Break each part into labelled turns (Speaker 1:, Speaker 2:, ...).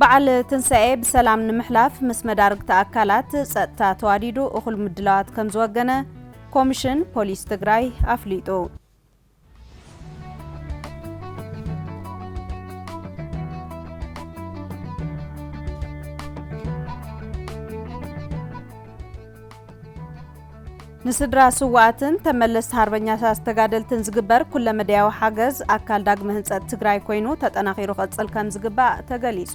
Speaker 1: በዓል ትንሳኤ ብሰላም ንምሕላፍ ምስ መዳርግቲ ኣካላት ፀጥታ ተዋዲዱ እኹል ምድላዋት ከምዝወገነ ኮሚሽን ፖሊስ ትግራይ ኣፍሊጡ። ንስድራ ስውኣትን ተመለስቲ ሃርበኛታት ተጋደልትን ዝግበር ኩለመዳያዊ ሓገዝ ኣካል ዳግመ ህንፀት ትግራይ ኮይኑ ተጠናኺሩ ክቕፅል ከም ዝግባእ ተገሊፁ።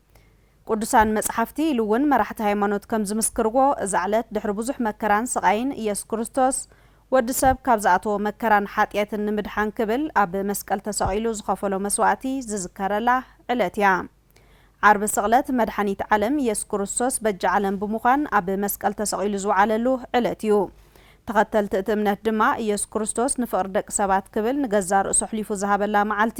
Speaker 1: ቅዱሳን መጽሓፍቲ ኢሉ እውን መራሕቲ ሃይማኖት ከም ዝምስክርዎ እዛ ዕለት ድሕሪ ብዙሕ መከራን ስቓይን ኢየሱስ ክርስቶስ ወዲ ሰብ ካብ ዝኣተዎ መከራን ሓጥየትን ንምድሓን ክብል ኣብ መስቀል ተሰቒሉ ዝኸፈሎ መስዋእቲ ዝዝከረላ ዕለት እያ። ዓርቢ ስቕለት መድሓኒት ዓለም ኢየሱስ ክርስቶስ በጃ ዓለም ብምዃን ኣብ መስቀል ተሰቒሉ ዝወዓለሉ ዕለት እዩ። ተኸተልቲ እቲ እምነት ድማ ኢየሱስ ክርስቶስ ንፍቕሪ ደቂ ሰባት ክብል ንገዛእ ርእሱ ኣሕሊፉ ዝሃበላ መዓልቲ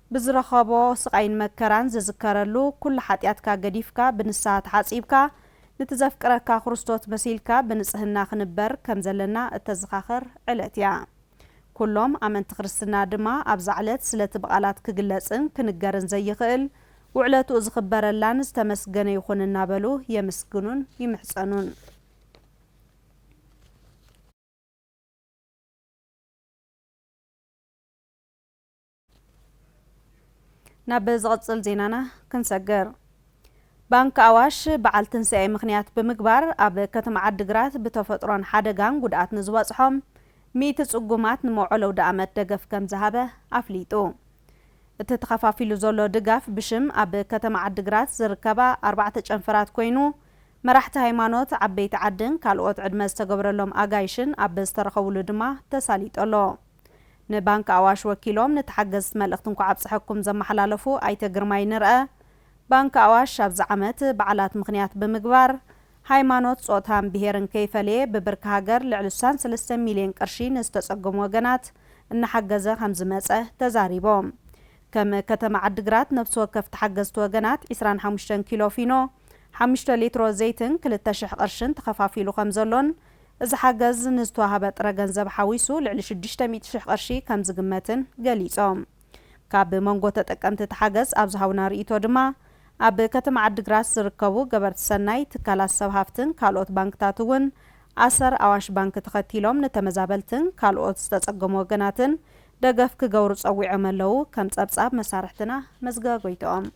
Speaker 1: ብዝረኸቦ ስቓይን መከራን ዝዝከረሉ ኩሉ ሓጢኣትካ ገዲፍካ ብንስሃ ተሓጺብካ ንቲ ዘፍቅረካ ክርስቶት መሲልካ ብንጽህና ክንበር ከም ዘለና እተዘኻኽር ዕለት እያ። ኩሎም ኣመንቲ ክርስትና ድማ ኣብዛ ዕለት ስለቲ ብቓላት ክግለጽን ክንገርን ዘይኽእል ውዕለትኡ ዝኽበረላን ዝተመስገነ ይኹን እናበሉ የምስግኑን ይምሕጸኑን። ናብ ዝቕጽል ዜናና ክንሰግር። ባንኪ ኣዋሽ በዓል ትንሳኤ ምኽንያት ብምግባር ኣብ ከተማ ዓዲግራት ብተፈጥሮን ሓደጋን ጉድኣት ንዝበፅሖም ሚእቲ ፅጉማት ንመውዕል ኣውደኣመት ደገፍ ከምዝሃበ ኣፍሊጡ። እቲ ተኸፋፊሉ ዘሎ ድጋፍ ብሽም ኣብ ከተማ ዓዲግራት ዝርከባ ኣርባዕተ ጨንፈራት ኮይኑ መራሕቲ ሃይማኖት፣ ዓበይቲ ዓድን ካልኦት ዕድመ ዝተገብረሎም ኣጋይሽን ኣብ ዝተረኸብሉ ድማ ተሳሊጡ ኣሎ። ንባንኪ ኣዋሽ ወኪሎም ንተሓገዝቲ መልእኽቲ እንኳዕ ኣብፀሐኩም ዘመሓላለፉ ኣይተ ግርማይ ንርአ፣ ባንኪ ኣዋሽ ኣብዚ ዓመት በዓላት ምኽንያት ብምግባር ሃይማኖት፣ ፆታን ብሄርን ከይፈለየ ብብርኪ ሃገር ልዕሊ ስሳን ሰለስተን ሚሊየን ቅርሺ ንዝተፀገሙ ወገናት እናሓገዘ ከምዝመፀ ተዛሪቦም። ከም ከተማ ዓዲግራት ነፍሲ ወከፍ ተሓገዝቲ ወገናት ዕስራን ሓሙሽተን ኪሎ ፊኖ፣ ሓሙሽተ ሊትሮ ዘይትን ክልተ ሽሕ ቅርሽን ተኸፋፊሉ ከምዘሎን እዚ ሓገዝ ንዝተዋህበ ጥረ ገንዘብ ሓዊሱ ልዕሊ ሽዱሽተ ሚእቲ ሽሕ ቅርሺ ከምዝግመትን ገሊፆም። ካብ መንጎ ተጠቀምቲ እቲ ሓገዝ ኣብ ዝሃቡና ርኢቶ ድማ ኣብ ከተማ ዓዲግራት ዝርከቡ ገበርቲ ሰናይ፣ ትካላት ሰብ ሃፍትን ካልኦት ባንክታት እውን ኣሰር ኣዋሽ ባንኪ ተኸቲሎም ንተመዛበልትን ካልኦት ዝተፀገሙ ወገናትን ደገፍ ክገብሩ ፀዊዖም ኣለው ከም ፀብፃብ መሳርሕትና መዝገበ ጎይትኦም።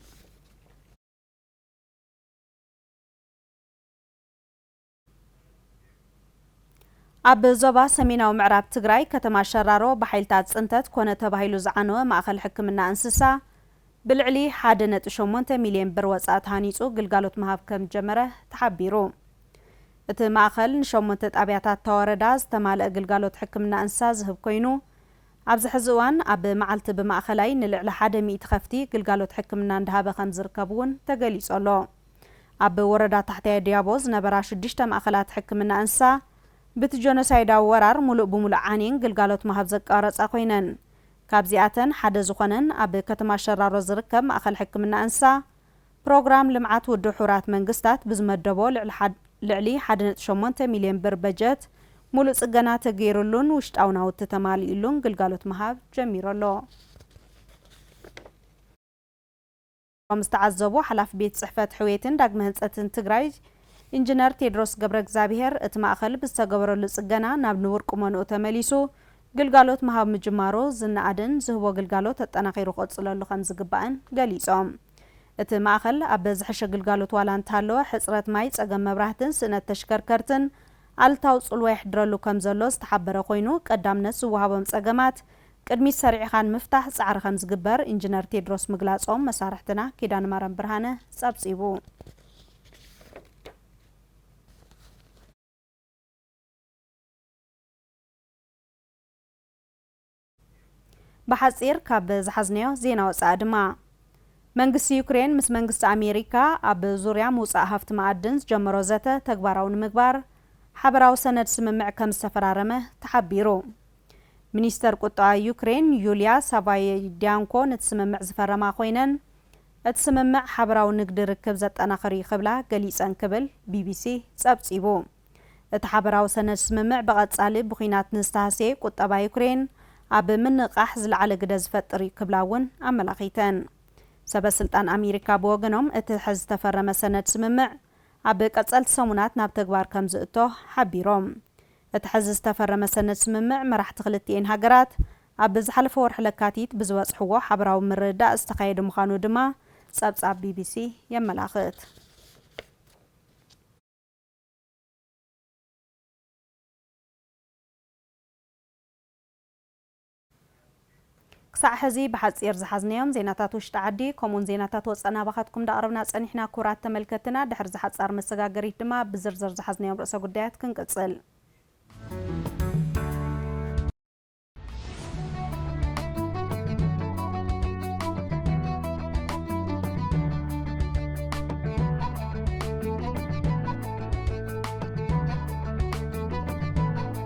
Speaker 1: ኣብ ዞባ ሰሜናዊ ምዕራብ ትግራይ ከተማ ሸራሮ ብሓይልታት ፅንተት ኮነ ተባሂሉ ዝዓነወ ማእኸል ሕክምና እንስሳ ብልዕሊ ሓደ ነጥቢ ሸሞንተ ሚሊየን ብር ወፃእ ተሃኒፁ ግልጋሎት ምሃብ ከም ጀመረ ተሓቢሩ። እቲ ማእኸል ንሸሞንተ ጣብያታት እታ ወረዳ ዝተማልአ ግልጋሎት ሕክምና እንስሳ ዝህብ ኮይኑ ኣብዚ ሕዚ እዋን ኣብ መዓልቲ ብማእኸላይ ንልዕሊ ሓደ ሚእቲ ከፍቲ ግልጋሎት ሕክምና እንዳሃበ ከም ዝርከብ እውን ተገሊፁ ኣሎ። ኣብ ወረዳ ታሕታይ ድያቦ ዝነበራ ሽዱሽተ ማእኸላት ሕክምና እንስሳ ብቲ ጆኖሳይዳዊ ወራር ሙሉእ ብሙሉእ ዓንየን ግልጋሎት ምሃብ ዘቋረፃ ኮይነን ካብዚኣተን ሓደ ዝኾነን ኣብ ከተማ ሸራሮ ዝርከብ ማእኸል ሕክምና እንስሳ ፕሮግራም ልምዓት ውድብ ሕቡራት መንግስታት ብዝመደቦ ልዕሊ ሓደ ነጥቢ ሸሞንተ ሚሊየን ብር በጀት ሙሉእ ፅገና ተገይርሉን ውሽጣዊ ናውቲ ተማሊኡሉን ግልጋሎት ምሃብ ጀሚሩ ኣሎ። ከም ዝተዓዘቦ ሓላፊ ቤት ፅሕፈት ሕውየትን ዳግመ ህንፀትን ትግራይ ኢንጂነር ቴድሮስ ገብረእግዛብሄር እቲ ማእኸል ብዝተገበረሉ ፅገና ናብ ንቡር ቁመንኡ ተመሊሱ ግልጋሎት ምሃብ ምጅማሩ ዝነኣድን ዝህቦ ግልጋሎት ኣጠናኺሩ ክቕፅለሉ ከምዝግባእን ገሊፆም። እቲ ማእኸል ኣብ ዝሐሸ ግልጋሎት ዋላ እንተሃለወ ሕፅረት ማይ፣ ፀገም መብራህትን ስእነት ተሽከርከርትን ኣሉታዊ ፅልዋ የሕድረሉ ከምዘሎ ዝተሓበረ ኮይኑ ቀዳምነት ዝወሃቦም ፀገማት ቅድሚት ሰሪዕኻ ንምፍታሕ ፃዕሪ ከምዝግበር ኢንጅነር ቴድሮስ ምግላፆም መሳርሕትና ኪዳነማርያም ብርሃነ ፀብፂቡ። ብሓፂር ካብ ዝሓዝናዮ ዜና ወፃኢ ድማ መንግስቲ ዩክሬን ምስ መንግስቲ ኣሜሪካ ኣብ ዙርያ ምውፃእ ሃፍቲ መኣድን ዝጀመሮ ዘተ ተግባራዊ ንምግባር ሓበራዊ ሰነድ ስምምዕ ከምዝተፈራረመ ተሓቢሩ። ሚኒስተር ቁጠባ ዩክሬን ዩልያ ሳቫይድያንኮ ነቲ ስምምዕ ዝፈረማ ኮይነን፣ እቲ ስምምዕ ሓበራዊ ንግዲ ርክብ ዘጠናኽር እዩ ክብላ ገሊጸን ክብል ቢቢሲ ጸብጺቡ። እቲ ሓበራዊ ሰነድ ስምምዕ ብቐጻሊ ብኲናት ንዝተሃስየ ቁጠባ ዩክሬን ኣብ ምንቕቓሕ ዝለዓለ ግደ ዝፈጥር እዩ ክብላ እውን ኣመላኺተን። ሰበ ስልጣን ኣሜሪካ ብወገኖም እቲ ሕዚ ዝተፈረመ ሰነድ ስምምዕ ኣብ ቀጸልቲ ሰሙናት ናብ ተግባር ከምዝእቶ ሓቢሮም። እቲ ሕዚ ዝተፈረመ ሰነድ ስምምዕ መራሕቲ ክልቲኤን ሃገራት ኣብ ዝሓለፈ ወርሒ ለካቲት ብዝበጽሕዎ ሓበራዊ ምርድዳእ ዝተኻየደ ምዃኑ ድማ ጸብጻብ ቢቢሲ የመላኽት። ክሳዕ ሕዚ ብሓጺር ዝሓዝናዮም ዜናታት ውሽጢ ዓዲ ከምኡውን ዜናታት ወጻኢ ናባኻትኩም እንዳቕረብና ጸኒሕና ክቡራት ተመልከትትና። ድሕሪ እዛ ሓጻር መሰጋገሪት ድማ ብዝርዝር ዝሓዝናዮም ርእሰ ጉዳያት ክንቅጽል።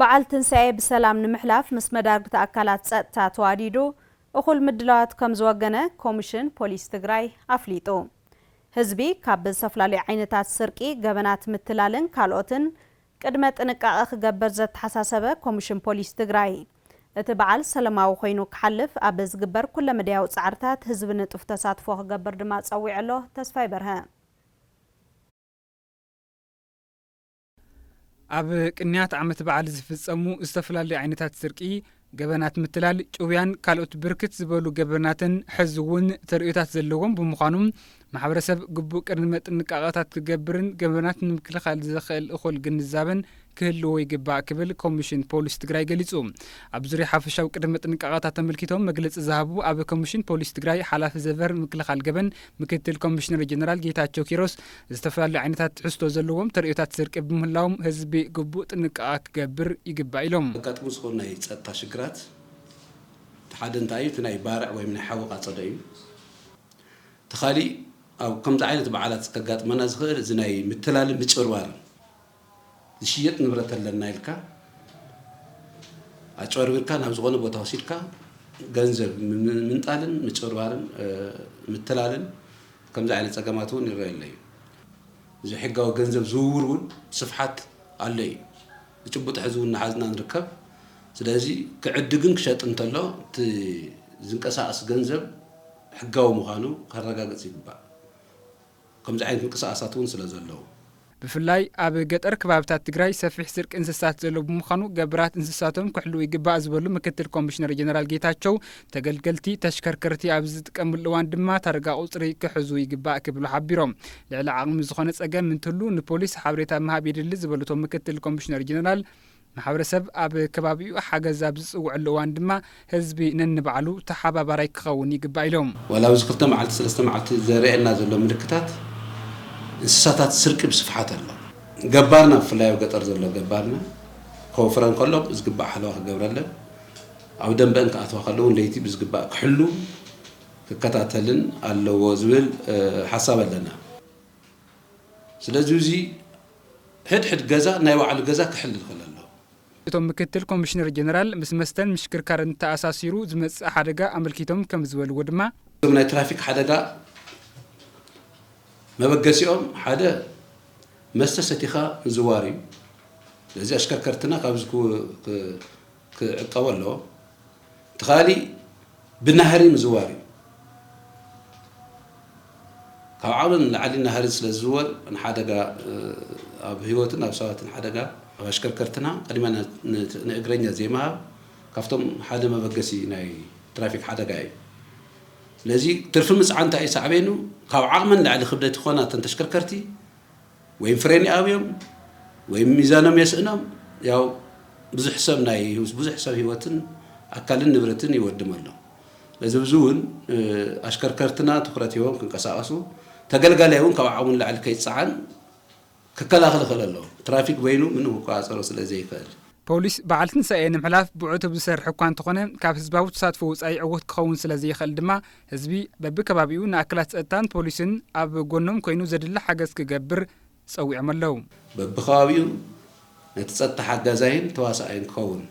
Speaker 1: በዓል ትንሳኤ ብሰላም ንምሕላፍ ምስ መዳርግቲ ኣካላት ፀጥታ ተዋዲዱ እኹል ምድላዋት ከምዝወገነ ኮሚሽን ፖሊስ ትግራይ ኣፍሊጡ። ህዝቢ ካብ ዝተፈላለዩ ዓይነታት ስርቂ፣ ገበናት ምትላልን ካልኦትን ቅድመ ጥንቃቐ ክገበር ዘተሓሳሰበ ኮሚሽን ፖሊስ ትግራይ፣ እቲ በዓል ሰለማዊ ኮይኑ ክሓልፍ ኣብ ዝግበር ኩለ መዳያዊ ፃዕርታት ህዝቢ ንጡፍ ተሳትፎ ክገብር ድማ ፀዊዑ ኣሎ። ተስፋይ በርሀ።
Speaker 2: ኣብ ቅንያት ዓመት በዓል ዝፍፀሙ ዝተፈላለዩ ዓይነታት ስርቂ ገበናት ምትላል ጭውያን ካልኦት ብርክት ዝበሉ ገበናትን ሕዚ እውን ተርእዮታት ዘለዎም ብምዃኖም ማሕበረሰብ ግቡእ ቅድመ ጥንቃቐታት ክገብርን ገበናት ንምክልኻል ዘኽእል እኹል ግንዛበን ክህልዎ ይግባእ ክብል ኮሚሽን ፖሊስ ትግራይ ገሊፁ። ኣብ ዙርያ ሓፈሻዊ ቅድመ ጥንቃቐታት ተመልኪቶም መግለፂ ዝሃቡ ኣብ ኮሚሽን ፖሊስ ትግራይ ሓላፊ ዘቨር ምክልኻል ገበን ምክትል ኮሚሽነር ጀነራል ጌታቸው ኪሮስ ዝተፈላለዩ ዓይነታት ትሕዝቶ ዘለዎም ተርእዮታት ስርቂ ብምህላዎም ህዝቢ ግቡእ ጥንቃቐ ክገብር ይግባእ ኢሎም። ከጋጥሙ ዝኽእሉ ናይ
Speaker 3: ፀጥታ ሽግራት እቲ ሓደ እንታይ እዩ? እቲ ናይ ባርዕ ወይም ናይ ሓዊ ቃፀሎ እዩ። እቲ ካሊእ ኣብ ከምዚ ዓይነት በዓላት ከጋጥመና ዝኽእል እዚ ናይ ምትላልን ምጭብርባርን ዝሽየጥ ንብረት ኣለና ኢልካ ኣጭበርቢርካ ናብ ዝኾነ ቦታ ወሲድካ ገንዘብ ምንጣልን ምጭብርባርን ምትላልን ከምዚ ዓይነት ፀገማት እውን ይረአ ኣሎ እዩ ዘይሕጋዊ ገንዘብ ዝውውር እውን ስፍሓት ኣሎ እዩ ብጭቡጥ ሕዚ እውን ናሓዝና ንርከብ ስለዚ ክዕድግን ክሸጥ እንተሎ እቲ ዝንቀሳቀስ ገንዘብ ሕጋዊ ምዃኑ ከረጋግፅ ይግባእ ከምዚ ዓይነት ምንቅስቓሳት እውን ስለ ዘለዉ። ብፍላይ
Speaker 2: ኣብ ገጠር ክባብታት ትግራይ ሰፊሕ ስርቂ እንስሳት ዘሎ ብምዃኑ ገብራት እንስሳቶም ክሕልዉ ይግባእ ዝበሉ ምክትል ኮሚሽነር ጀነራል ጌታቸው፣ ተገልገልቲ ተሽከርከርቲ ኣብ ዝጥቀምሉ እዋን ድማ ታርጋ ቁፅሪ ክሕዙ ይግባእ ክብሉ ሓቢሮም። ልዕሊ ዓቕሚ ዝኾነ ፀገም እንትህሉ ንፖሊስ ሓበሬታ ምሃብ የድሊ ዝበሉ እቶም ምክትል ኮሚሽነር ጀነራል፣ ማሕበረሰብ ኣብ ከባቢኡ ሓገዝ ኣብ ዝፅውዐሉ እዋን ድማ ህዝቢ ነንባዕሉ ተሓባባራይ ክኸውን ይግባእ ኢሎም። ዋላ ኣብዚ ክልተ መዓልቲ
Speaker 3: ሰለስተ መዓልቲ ዘርእየና ዘሎ ምልክታት እንስሳታት ስርቂ ብስፍሓት ኣሎ። ገባርና ብፍላይ ኣብ ገጠር ዘሎ ገባርና ከወፍረን ከሎ ብዝግባእ ሓለዋ ክገብረለን፣ ኣብ ደንበኣን ክኣትዋ ከሎ እውን ለይቲ ብዝግባእ ክሕሉ ክከታተልን ኣለዎ ዝብል ሓሳብ ኣለና። ስለዚ እዚ ሕድሕድ ገዛ ናይ ባዕሉ ገዛ ክሕል ይኽእል ኣሎ። እቶም ምክትል
Speaker 2: ኮሚሽነር ጀነራል ምስ መስተን ምሽክርካርን ተኣሳሲሩ ዝመፅእ ሓደጋ ኣመልኪቶም ከምዝበልዎ ድማ፣ እቶም ናይ ትራፊክ
Speaker 3: ሓደጋ መበገሲኦም ሓደ መስተ ሰቲኻ ምዝዋር እዩ። ስለዚ ኣሽከርከርትና ካብዚ ክዕቀቡ ኣለዎም። እቲ ኻሊእ ብናህሪ ምዝዋር እዩ። ካብ ዓቕሊ ንላዕሊ ናህሪ ስለ ዝዝወር ንሓደጋ ኣብ ህይወትን ኣብ ሰባትን ሓደጋ ኣብ ኣሽከርከርትና ቅድሚያ ንእግረኛ ዘይምሃብ ካብቶም ሓደ መበገሲ ናይ ትራፊክ ሓደጋ እዩ። ስለዚ ትርፊ ምፅዓን እንታይ እዩ ሳዕቤኑ? ካብ ዓቕመን ላዕሊ ክብደት ይኾና እተን ተሽከርከርቲ ወይም ፍሬን ይኣብዮም ወይም ሚዛኖም የስእኖም ያው ብዙሕ ሰብ ናይ ብዙሕ ሰብ ህይወትን ኣካልን ንብረትን ይወድም ኣሎ ለዚ ብዙ እውን ኣሽከርከርትና ትኩረት ሂቦም ክንቀሳቀሱ ተገልጋላይ እውን ካብ ዓቅሙ ንላዕሊ ከይፀዓን ክከላኸል ይኽእል ኣሎ ትራፊክ በይኑ ምንም ክቆፃፀሮ ስለ ዘይክእል ፖሊስ በዓል
Speaker 2: ትንሳኤ ንምሕላፍ ብዕቱብ ዝሰርሕ እኳ እንተኾነ ካብ ህዝባዊ ተሳትፎ ወፃኢ ዕዉት ክኸውን ስለ ዘይኽእል ድማ ህዝቢ በቢከባቢኡ ንኣካላት ፀጥታን ፖሊስን ኣብ ጎኖም ኮይኑ ዘድሊ ሓገዝ ክገብር ፀዊዖም ኣለው። በቢከባቢኡ
Speaker 3: ነቲ ፀጥታ ሓጋዛይን ተዋሳኣይን ክኸውን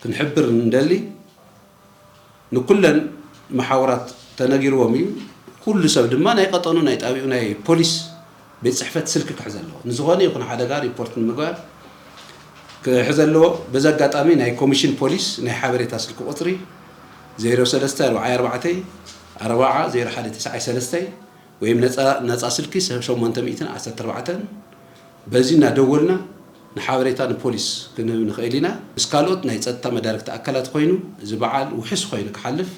Speaker 3: ክንሕብር እንደሊ ንኩለን መሓውራት ተነጊርዎም እዩ። ኩሉ ሰብ ድማ ናይ ቀጠኑ ናይ ጣብይኡ ናይ ፖሊስ ቤት ፅሕፈት ስልኪ ክሕዝ ኣለዎ። ንዝኾነ ይኹን ሓደጋ ሪፖርት ንምግባር ክሕዝ ኣለዎ። በዚ ኣጋጣሚ ናይ ኮሚሽን ፖሊስ ናይ ሓበሬታ ስልኪ ቁፅሪ ዜሮ ሰለስተ ኣርብዓይ ኣርባዕተይ ኣርባዓ ዜሮ ሓደ ትስዓይ ሰለስተ ወይም ነፃ ነፃ ስልኪ ሸሞንተ ሚእትን ዓሰርተ ኣርባዕተን በዚ እናደወልና ንሓበሬታ ንፖሊስ ክንህብ ንኽእል ኢና። ምስ ካልኦት ናይ ፀጥታ መዳርግቲ ኣካላት ኾይኑ እዚ በዓል ውሕስ ኾይኑ ክሓልፍ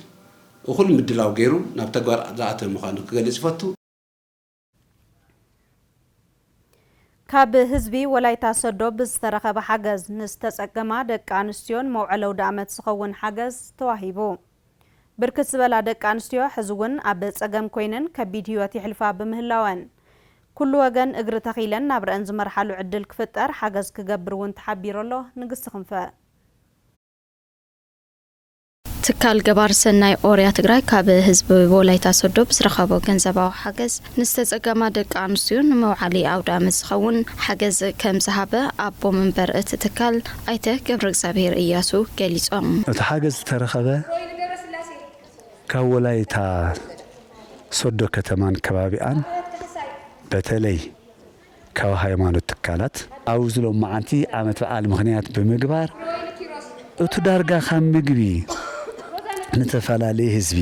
Speaker 3: እኹል ምድላው ገይሩ ናብ ተግባር ዝኣተወ ምዃኑ ክገልፅ ይፈቱ።
Speaker 1: ካብ ህዝቢ ወላይታ ሰዶ ብዝተረኸበ ሓገዝ ንዝተፀገማ ደቂ ኣንስትዮ ንመውዐሊ ኣውደኣመት ዝኸውን ሓገዝ ተዋሂቡ። ብርክት ዝበላ ደቂ ኣንስትዮ ሕዚ እውን ኣብ ፀገም ኮይነን ከቢድ ህይወት የሕልፋ ብምህላወን ኩሉ ወገን እግሪ ተኺለን ናብረኣን ዝመርሓሉ ዕድል ክፍጠር ሓገዝ ክገብር እውን ተሓቢሩ ኣሎ። ንግስቲ ክንፈ።
Speaker 4: ትካል ገባር ሰናይ ኦርያ ትግራይ ካብ ህዝቢ ወላይታ ሶዶ ብዝረኸቦ ገንዘባዊ ሓገዝ ንዝተፀገማ ደቂ ኣንስትዮ ንመውዓሊ ኣውደ ኣመት ዝኸውን ሓገዝ ከምዝሃበ ኣቦ መንበር እቲ ትካል ኣይተ ገብረእግዚኣብሄር እያሱ ገሊፆም። እቲ ሓገዝ
Speaker 5: ዝተረኸበ ካብ ወላይታ ሶዶ ከተማን ከባቢኣን በተለይ ካብ ሃይማኖት ትካላት ኣብዚ ሎማዓንቲ ዓመት በዓል ምኽንያት ብምግባር እቱ ዳርጋ ካብ ምግቢ ልተፈላለየ ህዝቢ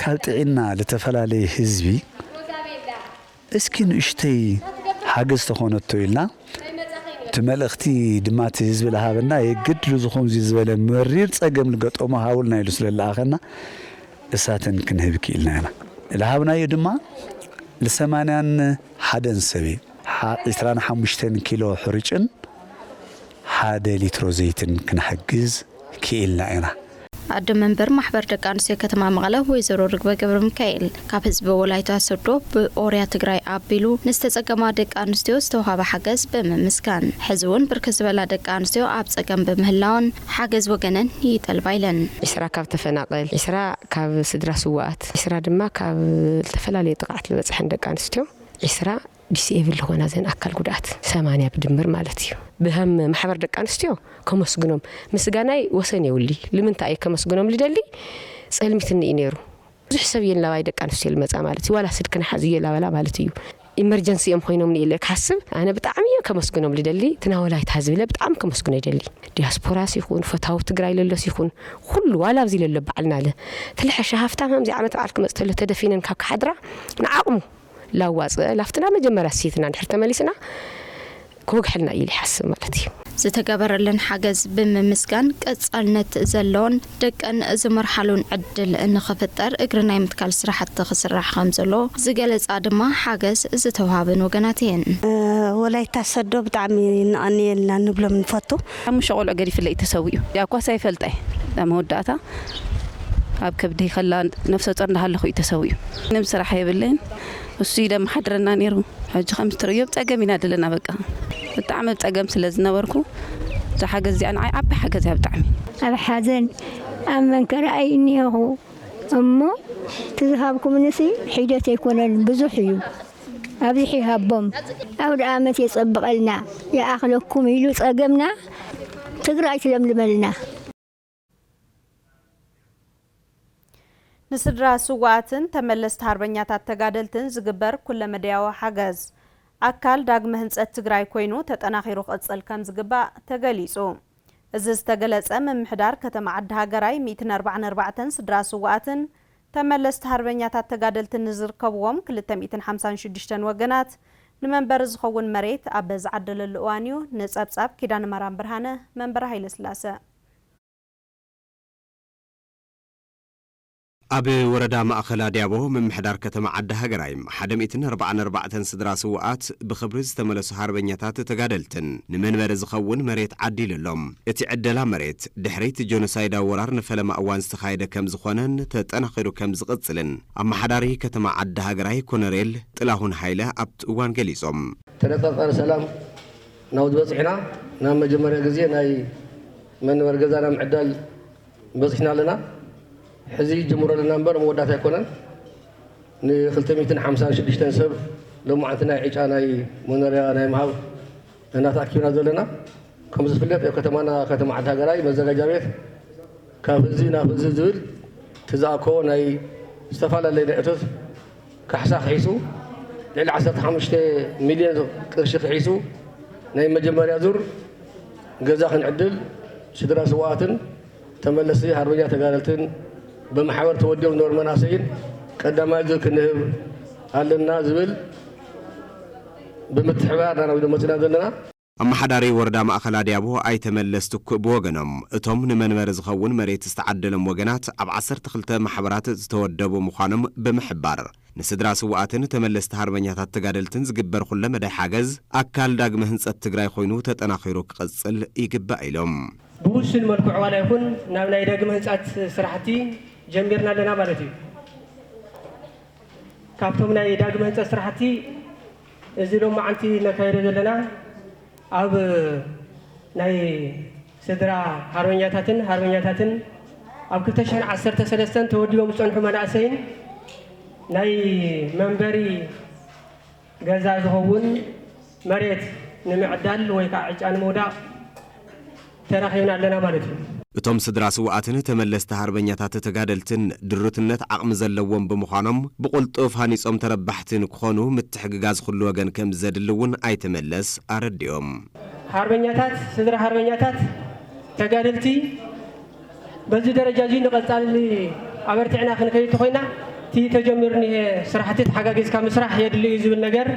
Speaker 5: ካብ ጥዒና ልተፈላለየ ህዝቢ እስኪ ንእሽተይ ሓገዝ ተኾነቶ ኢልና እቲ መልእኽቲ ድማ እቲ ህዝቢ ልሃበና የግድ ልዝኾምዚ ዝበለ መሪር ፀገም ልገጠሞ ሃቡልና ኢሉ ስለልኣኸና እሳትን ክንህብ ክኢልና ኢና። ልሃብናዮ ድማ ልሰማንያን ሓደን ሰብ ሓ ዕስራን ሓሙሽተን ኪሎ ሕሩጭን ሓደ ሊትሮ ዘይትን ክንሕግዝ ክኢልና ኢና። ኣደ መንበር
Speaker 4: ማሕበር ደቂ ኣንስትዮ ከተማ መቐለ ወይዘሮ ርግበ ገብረሚካኤል ካብ ህዝቢ ወላይታ ሶዶ ብኦርያ ትግራይ ኣቢሉ ንዝተፀገማ ደቂ ኣንስትዮ ዝተውሃበ ሓገዝ ብምምስጋን ሕዚ እውን ብርክት ዝበላ ደቂ ኣንስትዮ ኣብ ፀገም ብምህላወን ሓገዝ ወገነን ይጠልባ ኢለን። ዕስራ ካብ
Speaker 6: ተፈናቐል፣ ዕስራ ካብ ስድራ ስውኣት፣ ዒስራ ድማ ካብ ዝተፈላለዩ ጥቕዓት ልበፅሐን ደቂ ኣንስትዮ ዒስራ ዲስኤብል ልኾና ዘን ኣካል ጉድኣት ሰማንያ ብድምር ማለት እዩ። ብሀም ማሕበር ደቂ ኣንስትዮ ከመስግኖም ምስጋናይ ወሰን የውሊ ልምንታይ እየ ከመስግኖም ልደሊ ፀልሚትኒ እዩ ነይሩ ብዙሕ ሰብ እየን ላባይ ደቂ ኣንስትዮ ልመፃ ማለት እዩ ዋላ ስልክን ሓዙ እየ ላበላ ማለት እዩ ኢመርጀንሲ እዮም ኮይኖምኒ ኢለ ክሓስብ ኣነ ብጣዕሚ እየ ከመስግኖም ልደሊ እቲ ናይ ወላይታ ህዝቢ ኢለ ብጣዕሚ ከመስግኖ ይደሊ ዲያስፖራስ ይኹን ፈታዊ ትግራይ ለሎስ ይኹን ኹሉ ዋላ ኣብዚ ለሎ በዓል ናለ ትልሐሸ ሃፍታም ሃምዚ ዓመት በዓል ክመፅ ተሎ ተደፊነን ካብ ክሓድራ ንዓቕሙ ላዋፅእ ላፍትና መጀመርያ ስይትና እንድሕር ተመሊስና ክወግሐልና እዩ ኢሉ ይሓስብ ማለት እዩ። ዝተገበረለን
Speaker 4: ሓገዝ ብምምስጋን ቀፃልነት ዘለዎን ደቀን ዝመርሓሉን ዕድል ንኽፍጠር እግሪ ናይ ምትካል ስራሕቲ ክስራሕ ከምዘሎ ዝገለፃ ድማ ሓገዝ ዝተውሃበን ወገናት እየን። ወላይታ
Speaker 7: ሰዶ ብጣዕሚ ነቐንየልና ንብሎም ንፈቱ። ሓሙሽተ ቆልዑ ገዲፍለይ
Speaker 8: እዩ ተሰዊኡ። ዳኳስ ኣይፈልጣይ ኣብ መወዳእታ ኣብ ከብደይ ከላ ነብሰ ጾር እንዳሃለኹ እዩ ተሰዊኡ። ምንም ስራሕ የብለይን ንሱ እዩ ደማሓድረና ነይሩ ሕጂ ከምዚ ትርእዮ ብ ጸገም ኢና ደለና በቃ ብጣዕሚ ብ ጸገም ስለ ዝነበርኩ እዛ ሓገዝ እዚኣ ንዓይ ዓባይ ሓገዝ እያ ብጣዕሚ። ኣብ ሓዘን
Speaker 9: ኣብ መንከራ እይ እኒሀኹ እሞ እቲ ዝሃብኩምንሲ ሒደት ኣይኮነን ብዙሕ እዩ ኣብዚሑ ይሃቦም ኣውድኣመት የጸብቀልና ይኣኽለኩም ኢሉ ጸገምና ትግራይ ትለምልመልና።
Speaker 1: ንስድራ ስውኣትን ተመለስቲ ሃርበኛታት ተጋደልትን ዝግበር ኩለመደያዊ ሓገዝ ኣካል ዳግመ ህንፀት ትግራይ ኮይኑ ተጠናኺሩ ክቕፅል ከምዝግባእ ተገሊፁ። እዚ ዝተገለፀ ምምሕዳር ከተማ ዓዲ ሃገራይ ሚእትን ኣርባዓን ኣርባዕተን ስድራ ስውኣትን ተመለስቲ ሃርበኛታት ተጋደልትን ንዝርከብዎም ክልተ ሚእትን ሓምሳን ሽዱሽተን ወገናት ንመንበሪ ዝኸውን መሬት ኣብ ዝዓደለሉ እዋን እዩ። ንፀብፃብ ኪዳነማርያም ብርሃነ መንበረ ሃይለስላሰ።
Speaker 10: ኣብ ወረዳ ማእኸል ኣድያቦ ምምሕዳር ከተማ ዓዲ ሃገራይ ሓደ ሚእትን ኣርባዓን ኣርባዕተን ስድራ ስውኣት ብኽብሪ ዝተመለሱ ሃርበኛታት ተጋደልትን ንመንበሪ ዝኸውን መሬት ዓዲሉ ኣሎ። እቲ ዕደላ መሬት ድሕሪ'ቲ ጆኖሳይዳዊ ወራር ንፈለማ እዋን ዝተኻየደ ከምዝኾነን ተጠናኺሩ ከምዝቕፅልን ኣመሓዳሪ ከተማ ዓዲ ሃገራይ ኮነሬል ጥላሁን ሃይለ ኣብቲ እዋን ገሊፆም። ተነፃፃሪ ሰላም
Speaker 11: ናብዚ በጺሕና ናብ መጀመርያ ግዜ ናይ መንበሪ ገዛና ምዕዳል በጺሕና ኣለና ሕዚ ጅምሮ ኣለና እምበር መወዳእታ ኣይኮነን ን ክልተ ሚእትን ሓምሳን ሽዱሽተን ሰብ ሎማዓንቲ ናይ ዕጫ ናይ መኖርያ ናይ ምሃብ እና ተኣኪብና ዘለና ከም ዝፍለጥ ኣብ ከተማና ከተማ ዓዲ ሃገራይ መዘጋጃ ቤት ካብ ህዚ ናብ ህዚ ዝብል እቲ ዝኣከቦ ናይ ዝተፈላለየ ናይ እቶት ካሕሳ ክሒሱ ልዕሊ ዓሰርተ ሓሙሽተ ሚልዮን ቅርሺ ክሒሱ ናይ መጀመርያ ዙር ገዛ ክንዕድል ስድራ ስውኣትን ተመለስቲ ሃርበኛ ተጋደልትን ብማሕበር ተወዲቦም ዝነበሩ መናእሰይን ቀዳማይ ዙር ክንህብ ኣለና ዝብል ብምትሕብባር ኢና ናብ ኢዶም መፂእና ዘለና። ኣመሓዳሪ
Speaker 10: ወረዳ ማእኸል ኣድያቦ ኣይተ መለስ ትኩእ ብወገኖም፣ እቶም ንመንበሪ ዝኸውን መሬት ዝተዓደሎም ወገናት ኣብ ዓሰርተ ክልተ ማሕበራት ዝተወደቡ ምዃኖም ብምሕባር፣ ንስድራ ስውኣትን ተመለስቲ ሃርበኛታት ተጋደልትን ዝግበር ኹለ መዳይ ሓገዝ ኣካል ዳግመ ህንፀት ትግራይ ኾይኑ ተጠናኺሩ ክቕፅል ይግባእ ኢሎም። ብውሱን መልክዑ
Speaker 12: ዋላ ይኹን ናብ ናይ ዳግመ ህንፃት ስራሕቲ ጀሚርና ኣለና ማለት እዩ። ካብቶም ናይ ዳግመ ህንፀት ስራሕቲ እዚ ሎማዓንቲ ነካይዶ ዘለና ኣብ ናይ ስድራ ሓርበኛታትን ሃርበኛታትን ኣብ ክልተ ሽሕን ዓሰርተ ሰለስተን ተወዲቦም ዝፀንሑ መናእሰይን ናይ መንበሪ ገዛ ዝኸውን መሬት ንምዕዳል ወይ ከዓ ዕጫ ንምውዳቕ ተራኺብና ኣለና ማለት እዩ። እቶም ስድራ ስውኣትን
Speaker 10: ተመለስቲ ሃርበኛታት ተጋደልትን ድሩትነት ዓቕሚ ዘለዎም ብምዃኖም ብቑልጡፍ ሃኒፆም ተረባሕቲ ንክኾኑ ምትሕግጋዝ ኹሉ ወገን ከምዘድሊ እውን ኣይተ መለስ ኣረዲኦም። ሃርበኛታት
Speaker 12: ስድራ ሃርበኛታት ተጋደልቲ በዚ ደረጃ እዙይ ንቐፃሊ ኣበርቲዕና ክንከይድ ተኾይና እቲ ተጀሚሩ እኒሀ ስራሕቲ ተሓጋጊዝካ ምስራሕ የድሊ እዩ ዝብል ነገር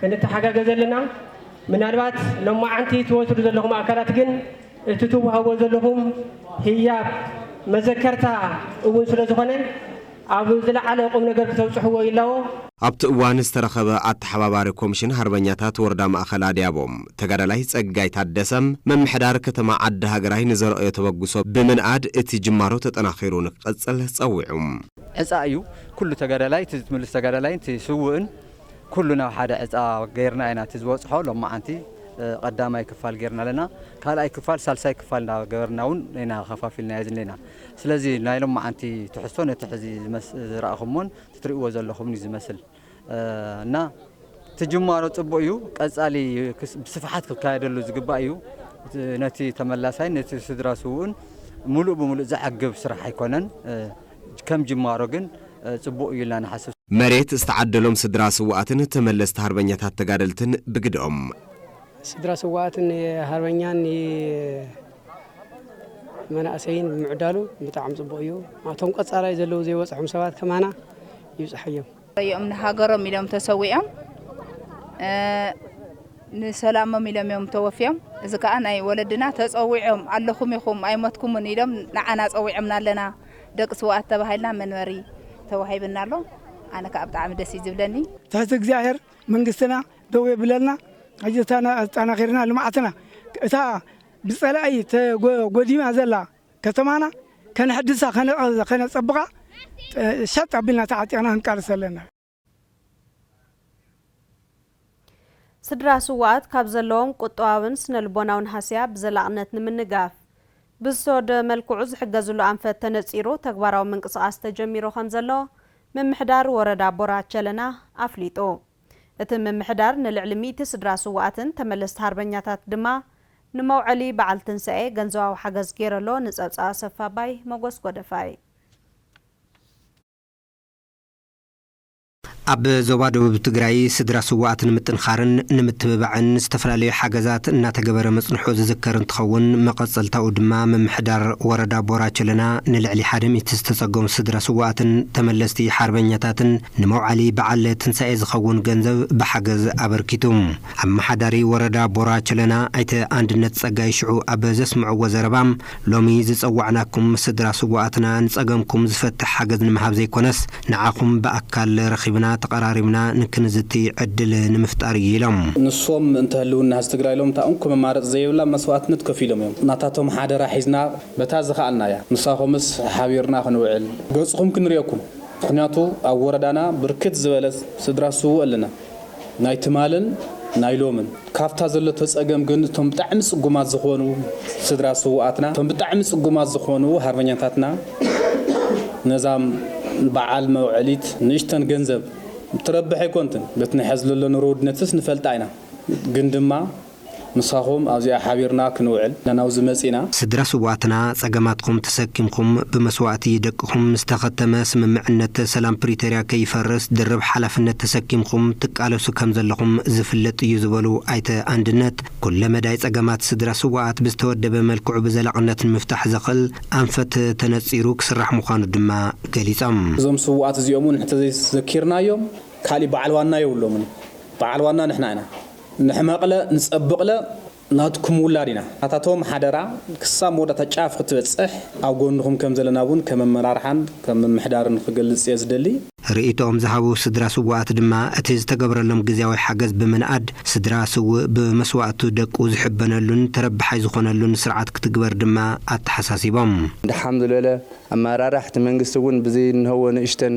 Speaker 12: ክንተሓጋገዘ ኣለና። ምናልባት ሎማዓንቲ ትወስዱ ዘለኹም ኣካላት ግን እቲ ትውሃቦ ዘለኹም ህያብ መዘከርታ እውን ስለ ዝኾነ ኣብ ዝለዓለ ቁም ነገር ክተብፅሕዎ ይላቦ። ኣብቲ እዋን
Speaker 10: ዝተረኸበ ኣተሓባባሪ ኮምሽን ሃርበኛታት ወረዳ ማእኸል ኣድያቦ ተጋዳላይ ፀጋይ ታደሰ ምምሕዳር ከተማ ዓዲ ሃገራይ ንዘረኣዮ ተበግሶ ብምንኣድ እቲ ጅማሮ ተጠናኺሩ ንክቕፅል ፀዊዑ። ዕፃ እዩ
Speaker 13: ኩሉ ተጋዳላይ እቲ ዝትምልስ ተጋዳላይን እቲ ስውእን። ኩሉ ናብ ሓደ ዕፃ ገይርና ኢና እቲ ዝበፅሖ ሎማዓንቲ ቐዳማይ ክፋል ገይርና ኣለና ካልኣይ ክፋል ሳልሳይ ክፋል እንዳገበርና እውን ኢና ኸፋፊልናዮ ዝኒኤና ስለዚ ናይ ሎማዓንቲ ትሕዝቶ ነቲ ሕዚ ዝረኣኹሞን ትሪእዎ ዘለኹምን እዩ ዝመስል እና እቲ ጅማሮ ፅቡቅ እዩ ቀፃሊ ብስፍሓት ክካየደሉ ዝግባእ እዩ ነቲ ተመላሳይን ነቲ ስድራ ስውእን ሙሉእ ብሙሉእ ዘዕግብ ስራሕ ኣይኮነን ከም ጅማሮ ግን ፅቡቕ እዩ ኢልና ንሓስብ። መሬት ዝተዓደሎም
Speaker 10: ስድራ ስውኣትን ተመለስቲ ሃርበኛታት ተጋደልትን ብግደኦም። ስድራ
Speaker 14: ስውኣትን ንሃርበኛን ንመናእሰይን ብምዕዳሉ ብጣዕሚ ፅቡቕ እዩ። ናቶም ቀፃላይ ዘለዉ ዘይበፅሖም ሰባት ከማና ይብፅሐዮም። እዮም
Speaker 15: ንሃገሮም ኢሎም ተሰዊኦም ንሰላሞም ኢሎም እዮም ተወፍዮም እዚ ከዓ ናይ ወለድና ተፀዊዖም ኣለኹም ኢኹም ኣይሞትኩምን ኢሎም ንዓና ፀዊዖምና ኣለና ደቂ ስውኣት ተባሂልና መንበሪ ተዋሂብና ኣሎ ኣነ ከዓ ብጣዕሚ ደስ እዩ ዝብለኒ ትሕቲ እግዚኣብሔር
Speaker 16: መንግስትና ደው የብለልና ሕጂ ኣጠናኺርና ልምዓትና እታ ብፀላኢ ተጎዲማ ዘላ ከተማና ከነሕድሳ ከነፀብቓ ሸጥ ኣቢልና ተዓጢቕና ክንቃለስ ኣለና።
Speaker 1: ስድራ ስውኣት ካብ ዘለዎም ቁጠባዊን ስነ ልቦናዊን ሃስያ ብዘላቕነት ንምንጋፍ ብዝተወደበ መልክዑ ዝሕገዝሉ ኣንፈት ተነፂሩ ተግባራዊ ምንቅስቓስ ተጀሚሩ ከምዘሎ ምምሕዳር ወረዳ ቦራ ቸለና ኣፍሊጡ። እቲ ምምሕዳር ንልዕሊ ሚእቲ ስድራ ስዉኣትን ተመለስቲ ሃርበኛታት ድማ ንመውዐሊ በዓል ትንሳኤ ገንዘባዊ ሓገዝ ገይረሎ ንጸብጻብ ኣሰፋ ኣባይ መጎስ ጎደፋይ።
Speaker 17: ኣብ ዞባ ደቡብ ትግራይ ስድራ ስዉኣት ንምጥንኻርን ንምትብባዕን ዝተፈላለዩ ሓገዛት እናተገበረ ምፅንሑ ዝዝከር እንትኸውን መቐፀልታኡ ድማ ምምሕዳር ወረዳ ቦራ ቸለና ንልዕሊ ሓደ ሚእቲ ዝተፀገሙ ስድራ ስዉኣትን ተመለስቲ ሓርበኛታትን ንመውዓሊ በዓል ትንሳኤ ዝኸውን ገንዘብ ብሓገዝ ኣበርኪቱ። ኣመሓዳሪ ወረዳ ቦራ ቸለና ኣይተ ኣንድነት ፀጋይ ሽዑ ኣብ ዘስምዕዎ ዘረባ፣ ሎሚ ዝፀዋዕናኩም ስድራ ስውኣትና ንፀገምኩም ዝፈትሕ ሓገዝ ንምሃብ ዘይኮነስ ንዓኹም ብኣካል ረኺብና ተቐራሪብና ንክንዝቲ ዕድል ንምፍጣር እዩ ኢሎም። ንሶም ምእንተ
Speaker 18: ህልውና ህዝቢ ትግራይ ኢሎም እታ እንኮ መማረፂ ዘይብላ መስዋእትነት ከፊሎም እዮም። ናታቶም ሓደራ ሒዝና በታ ዝኸኣልናያ ምሳኹምስ ሓቢርና ክንውዕል ገፅኹም ክንሪኤኩም ምኽንያቱ ኣብ ወረዳና ብርክት ዝበለ ስድራ ስውእ ኣለና ናይ ትማልን ናይ ሎምን ካብታ ዘለቶ ፀገም ግን እቶም ብጣዕሚ ፅጉማት ዝኾኑ ስድራ ስውኣትና እቶም ብጣዕሚ ፅጉማት ዝኾኑ ሃርበኛታትና ነዛም በዓል መውዐሊት ንእሽተን ገንዘብ እትረብሕ ኣይኮንትን በቲ ንሐዝለሎ ኑሮ ውድነትስ ንፈልጣ ኢና ግን ድማ ምሳኹም ኣብዚኣ ሓቢርና ክንውዕል ኢና ናብዚ መጺእና። ስድራ ስውኣትና
Speaker 17: ጸገማትኩም ተሰኪምኩም ብመስዋእቲ ደቅኹም ምስ ተኸተመ ስምምዕነት ሰላም ፕሪቶርያ ከይፈርስ ድርብ ሓላፍነት ተሰኪምኩም ትቃለሱ ከም ዘለኹም ዝፍለጥ እዩ ዝበሉ ኣይተ ኣንድነት ኩለ መዳይ ጸገማት ስድራ ስውኣት ብዝተወደበ መልክዑ ብዘላቕነት ንምፍታሕ ዘኽእል ኣንፈት ተነጺሩ ክስራሕ ምዃኑ ድማ ገሊጾም። እዞም ስውኣት እዚኦም
Speaker 18: እውን እንተዘይ ዘኪርናዮም ካሊእ በዓል ዋና የብሎምን በዓል ዋና ንሕና ኢና። ንሕመቕለ ንጸብቕለ ናትኩም ውላድ ኢና። ኣታቶም ሓደራ ክሳብ መወዳእታ ጫፍ ክትበጽሕ ኣብ ጎንኹም ከም ዘለና እውን ከም ኣመራርሓን ከም ምምሕዳርን ክገልጽ እየ ዝደሊ። ርእይቶኦም ዝሃቡ
Speaker 17: ስድራ ስዉኣት ድማ፣ እቲ ዝተገብረሎም ግዝያዊ ሓገዝ ብምንኣድ፣ ስድራ ስዉእ ብመስዋእቱ ደቁ ዝሕበነሉን ተረባሓይ ዝኾነሉን ስርዓት ክትግበር ድማ ኣተሓሳሲቦም። ድሓም ዝበለ
Speaker 19: ኣመራርሓ እቲ መንግስቲ እውን ብዘይ እንሀዎ ንእሽተን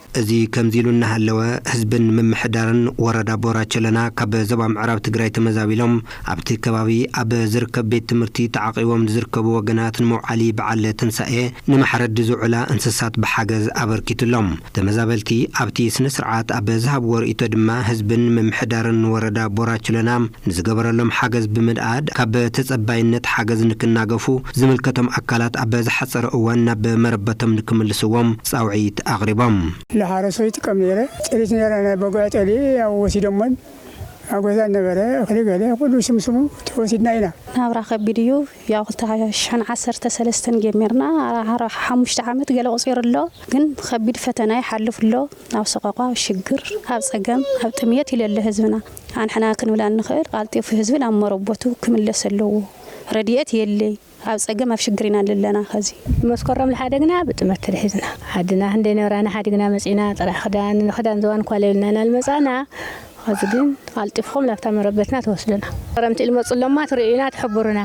Speaker 20: እዚ ከምዚ ኢሉ
Speaker 17: እናሃለወ ህዝብን ምምሕዳርን ወረዳ ቦራ ቸለና ካብ ዞባ ምዕራብ ትግራይ ተመዛቢሎም ኣብቲ ከባቢ ኣብ ዝርከብ ቤት ትምህርቲ ተዓቚቦም ንዝርከቡ ወገናት ንመውዓሊ በዓል ትንሳኤ ንመሕረዲ ዝውዕላ እንስሳት ብሓገዝ ኣበርኪቱሎም። ተመዛበልቲ ኣብቲ ስነ ስርዓት ኣብ ዝሃብዎ ርእይቶ ድማ ህዝብን ምምሕዳርን ወረዳ ቦራ ቸለና ንዝገበረሎም ሓገዝ ብምንኣድ ካብ ተፀባይነት ሓገዝ ንክናገፉ ዝምልከቶም ኣካላት ኣብ ዝሓፀረ እዋን ናብ መረበቶም ንክምልስዎም ፃውዒት ኣቕሪቦም። ለሓረሶ ይጥቀም
Speaker 16: ነይረ ጥሪት ነይረ ናይ በጉዕ ጠሊ ያው ወሲዶሞን ኣጎዛን ነበረ እክሊ ገለ ኩሉ ስምስሙ ተወሲድና ኢና። ናብራ ከቢድ እዩ
Speaker 21: ያው ክልተ ሓሸን ዓሰርተ ሰለስተን ጀሚርና ኣራሓራ ሓሙሽተ ዓመት ገለ ኣቁጺሩ ኣሎ ግን ከቢድ ፈተና ይሓልፍ ኣሎ ኣብ ሰቆቃ ኣብ ሽግር ኣብ ጸገም ኣብ ጥምየት ኢሉ ኣሎ ህዝብና ኣንሕና ክንብላ እንክእል ቃልጢፉ ህዝቢ ናብ መረቦቱ ክምለስ ኣለዎ ረዲኤት የሌይ ኣብ ጸገም ኣብ ሽግር ኢና ኣለና ከዚ መስከረም ልሓደግና
Speaker 9: ብጥመት ተሊሒዝና ዓድና ክንደይ ነብራና ሓዲግና መጺና ጥራሕ ክዳን ንክዳን ዝባን እኳ ለይብልና ናልመጻና ኸዚ ግን ቐልጢፍኹም ናብታ መረበትና ትወስዱና። ኸረምቲ ልመጹ እሎማ ትርእዩና ትሕቡሩና።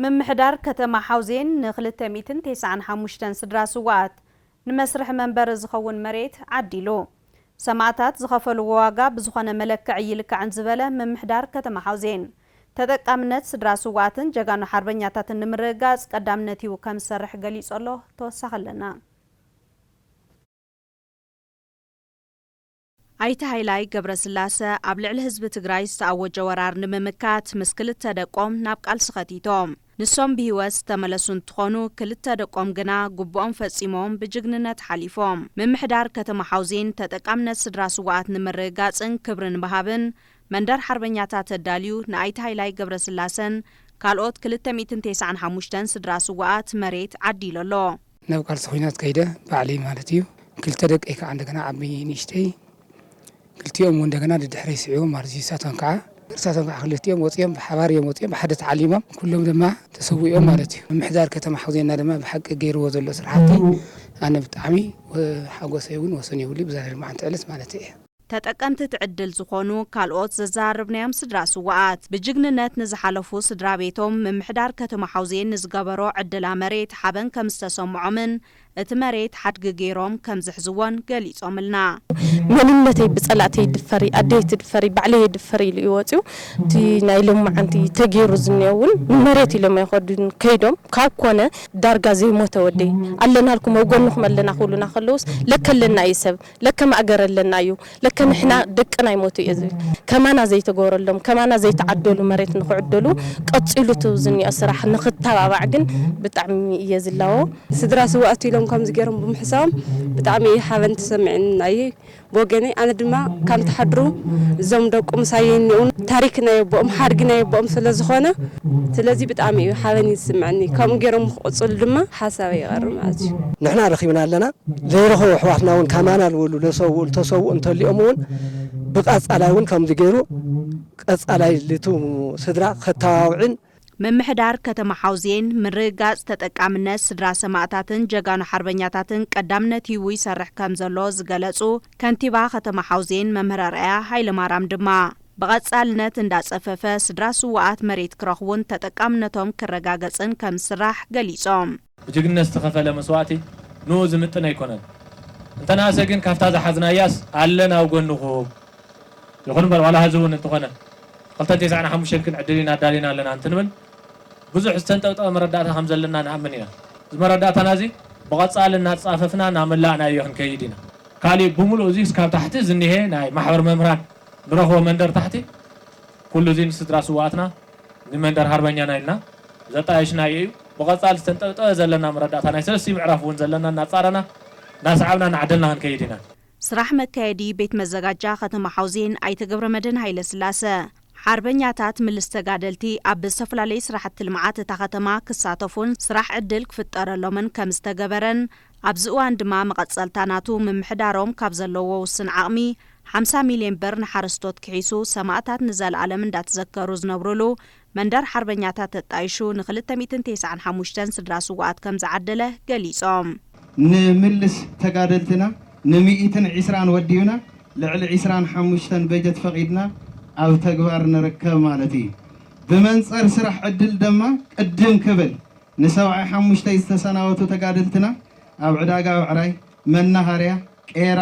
Speaker 1: ምምሕዳር ከተማ ሓውዜን ን ክልተ ሚእትን ቴስዓን ሓሙሽተን ስድራ ስውኣት ንመስርሒ መንበሪ ዝኸውን መሬት ዓዲሉ። ሰማእታት ዝኸፈልዎ ዋጋ ብዝኾነ መለክዕ ኣይልካዕን ዝበለ ምምሕዳር ከተማ ሓውዜን፣ ተጠቃምነት ስድራ ስውኣትን ጀጋኑ ሓርበኛታትን ንምርግጋፅ ቀዳምነት ሂቡ ከምዝሰርሕ ገሊፁ ኣሎ። ተወሳኺ ኣለና። ኣይተ ሃይላይ ገብረስላሰ ኣብ ልዕሊ ህዝቢ ትግራይ ዝተኣወጀ ወራር ንምምካት ምስ ክልተ ደቆም ናብ ቃልሲ ከቲቶም። ንሶም ብህይወት ዝተመለሱ እንትኾኑ ክልተ ደቆም ግና ግቡኦም ፈፂሞም ብጅግንነት ሓሊፎም። ምምሕዳር ከተማ ሓውዜን ተጠቃምነት ስድራ ስውኣት ንምርግጋፅን ክብሪ ንምሃብን መንደር ሓርበኛታት ኣዳልዩ ንኣይተ ሃይላይ ገብረስላሰን ካልኦት ክልተ ሚእትን ቴስዓን ሓሙሽተን ስድራ ስውኣት መሬት ዓዲሉ ኣሎ። ናብ ቃልሲ ኹናት
Speaker 14: ከይደ ባዕለይ ማለት እዩ ክልተ ደቀይ ካዓ እንደገና ዓብይ ንእሽተይ ክልቲኦም እውን እንደገና ደድሕረይ ስዒቦም ማለት እዩ ንሳቶም ካዓ ንሳቶም ካዓ ክልቲኦም ወፂኦም ብሓባር እዮም ወፂኦም ብሓደ ተዓሊሞም ኩሎም ድማ ተሰዊኦም ማለት እዩ ምምሕዳር ከተማ ሓውዜና ድማ ብሓቂ ገይርዎ ዘሎ ስራሕቲ ኣነ ብጣዕሚ ሓጎሰይ እውን ወሰን የብሉይ ብዛ ሎምዓንቲ ዕለት ማለት እየ። ተጠቀምቲ እቲ
Speaker 1: ዕድል ዝኾኑ ካልኦት ዘዘራረብናዮም ስድራ ስውኣት፣ ብጅግንነት ንዝሓለፉ ስድራ ቤቶም፣ ምምሕዳር ከተማ ሓውዜን ንዝገበሮ ዕድላ መሬት ሓበን ከምዝተሰምዖምን እቲ መሬት ሓድጊ ገይሮም ከምዝሕዝዎን ገሊፆምልና። መንነተይ
Speaker 2: ብፀላእተይ ይድፈር'ዩ፣ ኣደይ ኣይትድፈር'ዩ፣ ባዕለይ የድፍር ኢሉ እዩ ወፂኡ። እቲ ናይ ሎምዓንቲ ተገይሩ ዝኒኦ እውን ንመሬት ኢሎም ኣይኸዱን ከይዶም፣ ካብ ኮነ ዳርጋ ዘይሞተ ወደይ ኣለናልኩም ኣብ ጎንኹም ኣለና ክብሉና ከለውስ ለከ ኣለና እዩ ሰብ ለከ ማእገር ኣለና እዩ ለከ ንሕና ደቅና ኣይሞቱ እዩ ዝብል ከማና ዘይተገበረሎም ከማና ዘይተዓደሉ መሬት ንክዕደሉ ቀፂሉ እቲ ዝኒኦ ስራሕ ንክተባባዕ ግን ብጣዕሚ እየ ዝላቦ። ስድራ ስውኣት
Speaker 7: ኢሎም ከምዚ ገይሮም ብምሕሳቦም ብጣዕሚ እዩ ሓበን ተሰሚዕናይ ብወገነይ ኣነ ድማ ካም ተሓድሩ እዞም ደቁ ምሳየይ እኒኦው ታሪክ ናይ ኣቦኦም ሓድጊ ናይ ኣቦኦም ስለ ዝኾነ ስለዚ ብጣዕሚ እዩ ሓበን እዩ ዝስመዐኒ ከምኡ ገይሮም ንክቕፅሉ ድማ ሓሳበይ ይቐርብ ማለት እዩ። ንሕና ረኺብና ኣለና
Speaker 20: ዘይረኸቡ ኣሕዋትና እውን ከማና ዝበሉ ለሰውኡ ልተሰውኡ እንተሊኦም እውን ብቀፃላይ እውን ከምዚ ገይሩ ቀፃላይ ልቱ ስድራ ከተባብዕን ምምሕዳር
Speaker 1: ከተማ ሓውዜን ምርግጋፅ ተጠቃምነት ስድራ ሰማእታትን ጀጋኑ ሓርበኛታትን ቀዳምነት ሂቡ ይሰርሕ ከምዘሎ ዝገለፁ ከንቲባ ከተማ ሓውዜን መምህር ኣርኣያ ሃይለማርያም ድማ ብቐፃልነት እንዳፀፈፈ ስድራ ስውኣት መሬት ክረኽቡን ተጠቃምነቶም ክረጋገፅን ከምዝስራሕ ገሊፆም። ብጅግንነት ዝተኸፈለ
Speaker 3: መስዋእቲ ንኡ ዝምጥን ኣይኮነን። እንተነኣሰ ግን ካብታ ዝሓዝናያስ ኣለና ኣብ ጎንኹም። ይኹን እምበር ዋላ ሀዚ እውን እንተኾነ ክልተን ቴስዓን ሓሙሽተን ግን ዕድል ኢና ኣዳሊና ኣለና እንትንብል ብዙሕ ዝተንጠብጠበ መረዳእታ ከም ዘለና ንኣምን ኢና። እዚ መረዳእታና እዚ ብቐጻሊ እናተጻፈፍና እናመላእናዮ ክንከይድ ኢና። ካሊእ ብምሉኡ እዚስ ካብ ታሕቲ ዝኒሀ ናይ ማሕበር መምህራን ንረኽቦ መንደር ታሕቲ ኩሉ እዚ ንስድራ ስውኣትና፣ ንመንደር ሃርበኛና ኢልና ዘጣየሽናዮ እዩ። ብቐጻሊ ዝተንጠብጠበ ዘለና መረዳእታ ናይ ሰለስቲኡ ምዕራፍ እውን ዘለና እናጻረና እናሰዓብና እናዓደልና ክንከይድ ኢና። ስራሕ መካየዲ
Speaker 1: ቤት መዘጋጃ ከተማ ሓውዜን ኣይተ ገብረመድህን ሃይለስላሰ፣ ሓርበኛታት ምልስ ተጋደልቲ ኣብ ዝተፈላለዩ ስራሕቲ ልምዓት እታ ከተማ ክሳተፉን ስራሕ ዕድል ክፍጠረሎምን ከምዝተገበረን ኣብዚ እዋን ድማ መቐፀልታ ናቱ ምምሕዳሮም ካብ ዘለዎ ውስን ዓቕሚ ሓምሳ ሚሊየን ብር ንሓረስቶት ክሒሱ ሰማእታት ንዘልኣለም እንዳተዘከሩ ዝነብሩሉ መንደር ሓርበኛታት ተጣይሹ ን ክልተ ሚእትን ቴስዓን ሓሙሽተን ስድራ ስውኣት ከምዝዓደለ ገሊፆም። ንምልስ
Speaker 22: ተጋደልትና ን ሚእትን ዒስራን ወዲብና ልዕሊ ዒስራን ሓሙሽተን በጀት ፈቒድና ኣብ ተግባር ንርከብ ማለት እዩ። ብመንፀር ስራሕ ዕድል ድማ ቅድም ክብል ንሰብዓይ ሓሙሽተይ ዝተሰናበቱ ተጋደልትና ኣብ ዕዳጋ ብዕራይ፣ መናሃርያ፣ ቄራ፣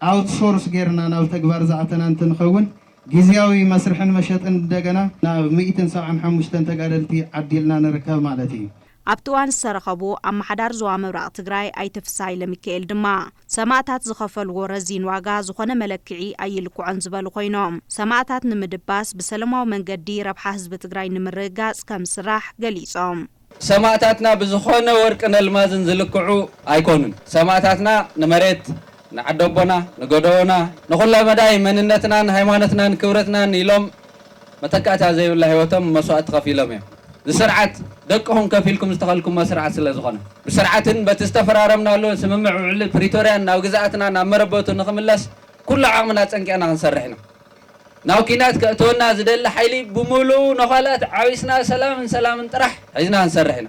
Speaker 22: ኣውት ሶርስ ጌርና ናብ ተግባር ዝኣተና እንትንኸውን ጊዚያዊ መስርሕን መሸጥን እንደገና ናብ ሚእትን ሰብዓን ሓሙሽተን ተጋደልቲ ዓዲልና ንርከብ ማለት እዩ። ኣብቲ እዋን
Speaker 1: ዝተረኸቡ ኣማሓዳር ዞባ ምብራቕ ትግራይ ኣይተ ፍስሃ ኢለሚካኤል ድማ፣ ሰማእታት ዝኸፈልዎ ረዚን ዋጋ ዝኾነ መለክዒ ኣይልክዖን ዝበሉ ኮይኖም፣ ሰማእታት ንምድባስ ብሰለማዊ መንገዲ ረብሓ ህዝቢ ትግራይ ንምርግጋፅ ከምዝስራሕ ገሊፆም። ሰማእታትና
Speaker 23: ብዝኾነ ወርቅን ኣልማዝን ዝልክዑ ኣይኮኑን። ሰማእታትና ንመሬት፣ ንዓደቦና፣ ንገደቦና፣ ንኹለመዳይ መንነትናን ሃይማኖትናን ክብረትናን ኢሎም፣ መተካእታ ዘይብላ ህይወቶም መስዋእቲ ከፊሎም እዮም። እዚ ስርዓት ደቅኹም ከፊልኩም ዝተኸልኩሞ ስርዓት ስለዝኾነ። ብስርዓትን በቲ ዝተፈራረምናሉ ስምምዕ ውዕሊ ፕሪቶርያን ናብ ግዝኣትና ናብ መረበቱ ንኽምለስ ኩሉ ዓቕምና ኣፀንቂቕና ክንሰርሕ ኢና። ናብ ኲናት ከእትወና ዝደሊ ሓይሊ ብሙሉኡ ነዃላት ዓቢስና ሰላምን ሰላምን ጥራሕ ሒዝና ክንሰርሕ ኢና።